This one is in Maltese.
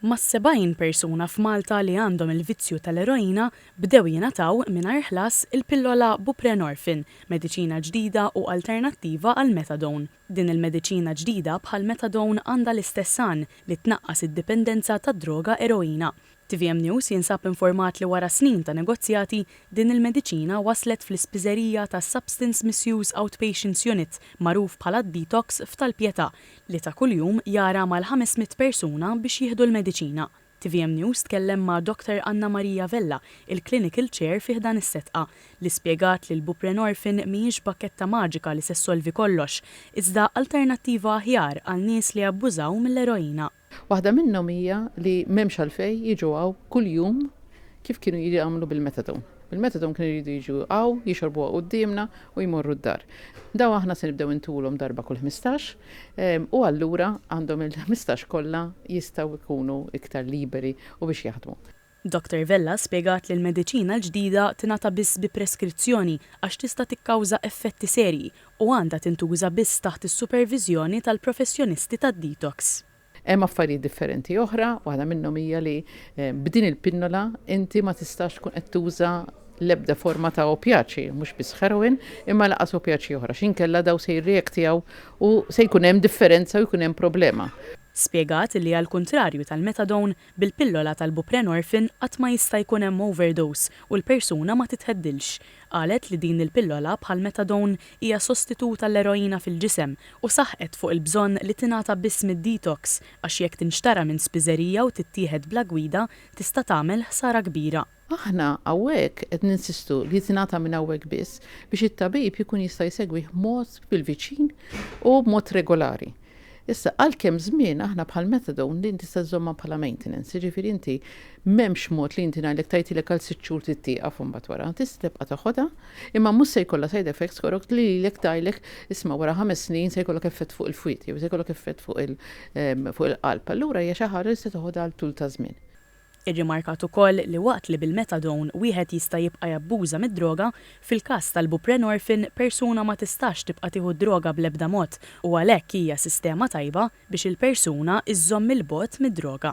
Mas-70 persuna f'Malta li għandhom il-vizzju tal-eroina bdew jingħataw, mingħajr ħlas, il-pillola buprenorphine, mediċina ġdida u alternattiva għall-methadone. Din il-mediċina ġdida bħall-methadone għandha l-istess għan, li tnaqqas id-dipendenza tad-droga eroina. Tvm News jinsab informat li wara snin ta' negozjati, din il-mediċina waslet fl-ispiżerija tas-Substance Misuse Outpatients Unit, magħruf bħala d-Detox f'Tal-Pietà, li ta' kuljum jgħarha mal-ħames mitt persuna biex jieħdu l-mediċina. Tvm News tkellem ma' Dr Anna Maria Vella, il-Clinical Chair fi ħdan is-setqa, li spjegat li l-buprenorphine mhijiex bakketta maġika li se ssolvi kollox, iżda alternattiva aħjar għal nies li abbużaw mill-eroina. Waħda minnhom hija li m'hemmx għalfejn jiġu hawn kuljum kif kienu jagħmlu bil-methadone. Bil-methadone kienu jridu jiġu hawn, jixorbuha quddiemna u jmorru d-dar. Dawn aħna se nibdew intulhom darba kull ħmistax u allura għandhom il-ħmistax kollha jistgħu jkunu iktar liberi u biex jaħdmu. Dottor Vella spjegat li l-mediċina l-ġdida tingħata biss bi preskrizzjoni għax tista' tikkawża effetti serji u għandha tintuża biss taħt is-superviżjoni tal-professjonisti tad-detox. Hemm affarijiet differenti oħra, waħda minnhom hija li b'din il-pinnola inti ma tistax tkun qed tuża l-ebda forma ta' opjaċi, mhux biss heroin, imma lanqas opjaċi oħra, x'inkella dawn se jirreaktjaw u se jkun hemm differenza u jkun hemm problema. Spjegat li għall-kuntrarju tal-methadone, Bil-pillola tal-buprenorphin qatt ma jista' jkun hemm overdose u l-persuna ma tittheddilx. Qalet li din il-pillola bħall-methadone hija sostitut għall-eroina fil-ġisem u saħqet fuq il-bżonn li tingħata biss mid-detox għax jekk tinxtara minn spiżerija u tittieħed bla gwida tista' tagħmel ħsara kbira. Aħna hawnhekk qed ninsistu li tingħata minn hawnhekk biss biex it-tabib jkun jista' jsegwih b'mod bil-viċin u b'mod regolari. Issa, għal kemm żmien, aħna bħal methadone din tista' żżommha bħala maintenance, jiġifieri inti m'hemmx mod li inti ngħidlek tgħidilek għal sitt xhur trid tieqaf u mbagħad wara. Tista' tibqa' toħodha, imma mhux se jkollha side effects korok li lilek tgħidlek isma' wara ħames snin se jkollok effett fuq il-fwied jew se jkollok effett fuq il-qalb. Allura hija xi ħaġa li se toħodha għal tul ta' żmien. Irrimarkat ukoll li waqt li bil-methadone wieħed jista' jibqa' jabbuża mid-droga, fil-każ tal-buprenorphine persuna ma tistax tibqa' tieħu d-droga bl-ebda mod u għalhekk hija sistema tajba biex il-persuna żżomm 'il bogħod mid-droga.